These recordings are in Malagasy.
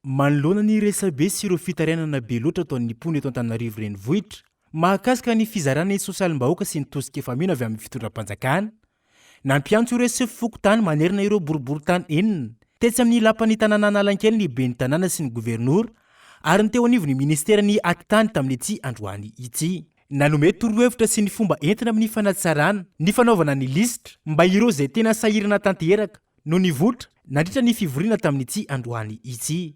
Manoloana ny resabe sy ireo fitarainana be loatra ataon'ny mpoina eto Antananarivo Renivohitra mahakasika ny fizarana ny sosialim-bahoaka sy ny tosika efa mino avy amin'ny fitondram-panjakana, nampiantso ireo sefo fokontany manerana ireo boriborintany enina tetsy amin'ny lapan'ny tanàna Analakely ny ben'ny tanàna sy ny governora ary ny teo anivon'ny ministeran'ny Atitany tamin'ity androany ity. Nanome torohevitra sy ny fomba entina amin'ny fanatsarana ny fanaovana ny lisitra mba ireo izay tena sahirana tanteraka no nivoitra nandritra ny fivoriana tamin'ity androany ity.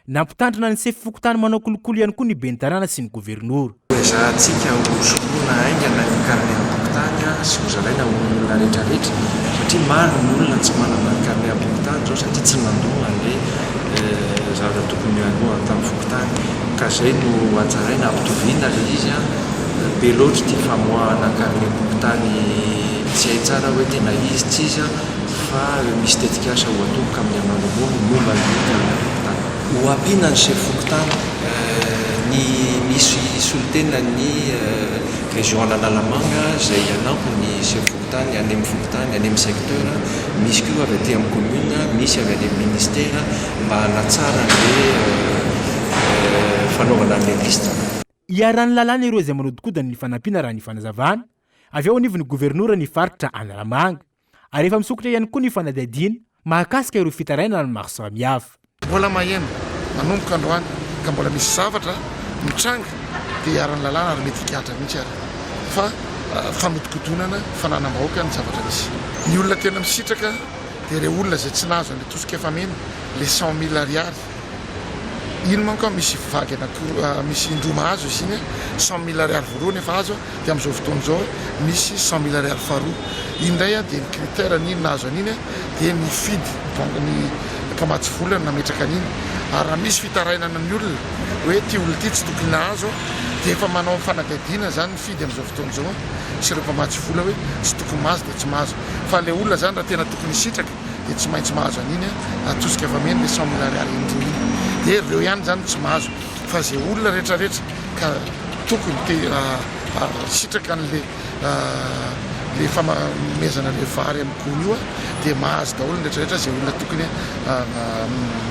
Nampitandrina ny sefo fokontany manao kolikoly ihany koa ny ben'ny tanàna sy ny governora. Hoezahantsika hosoloana haingana ny carnet am-pokontany sy hozaraina ho an'ny olona rehetrarehetra satria maro ny olona tsy manana ny carnet am-pokontany izao satria tsy nandoa an'ilay zavatra tokony handoany tamin'ny fokontany ka izay no hajaraina hampitoviana ilay izy an! Be loatra ity famoahana carnet am-pokontany tsy hay tsara hoe tena izy tsy izy an! fa ireo misy tetikasa ho atomboka amin'ny hamandombony momba ny fikaroham-pokontany. Ho ampiana ny sefo fokontany, ny misy solontenan'ny Région Analamanga izay hanampy ny sefo fokontany any amin'ny fokontany, any amin'ny secteur, misy koa avy aty amin'ny commune, misy avy any amin'ny ministère mba hanatsara an'ilay fanaovana an'ilay liste. Iharan'ny lalàna ireo izay manodinkodina ny fanampiana raha ny fanazavana avy ao anivon'ny Governora ny faritra Analamanga. ary efa misokatra ihany koa ny fanadihadiana mahakasika ireo fitarainana maro samihafa. Mbola maheno, manomboka androany ka mbola misy zavatra mitranga dia iharan'ny lalàna ary mety higadra mihitsy ary fa fanodikodonana fananam-bahoaka ny zavatra misy. Ny olona tena misitraka dia ireo olona izay tsy nahazo an'ilay tosika efa mena, ilay cent mille ariary. Iny manko an misy vague anakiroa ah misy indroa mahazo izy iny an cent mille ariary voalohany efa azo an dia amin'izao fotoana izao an misy cent mille ariary faharoa iny indray an dia ny critère an'iny nahazo an'iny an dia ny fidy banky ny mpamatsy vola no nametraka an'iny ary raha misy fitarainana ny olona hoe ity olona ity tsy tokony nahazo an dia efa manao ny fanadihadiana izany ny fidy amin'izao fotoana izao an sy ireo mpamatsy vola hoe tsy tokony mahazo dia tsy mahazo fa ilay olona izany raha tena tokony hisitraka dia tsy maintsy mahazo an'iny atosika fa meny dia cent mille ariary iny dingana dia reo ihany zany no tsy mahazo fa ze olona rehetra rehetra ka tokony te sitraka an'le le famamezana le vary amin'ny gony io dia mahazo daholo ny rehetra rehetra ze olona tokony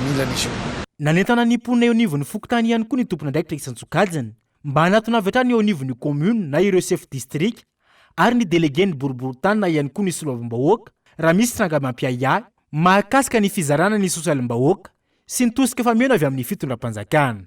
mila an'izy io. Nanentana ny mponina eo anivon'ny fokontany ihany koa ny tompon'andraikitra isan-tsokajiny mba hanatona avy hatrany eo anivon'ny commune na ireo chef distrika ary ny delegen'ny boriborintany na ihany koa ny soloavim-bahoaka raha misy tranga mampiahiahy mahakasika ny fizarana ny sosialim-bahoaka sy ny tosika fameno avy amin'ny fitondram-panjakana.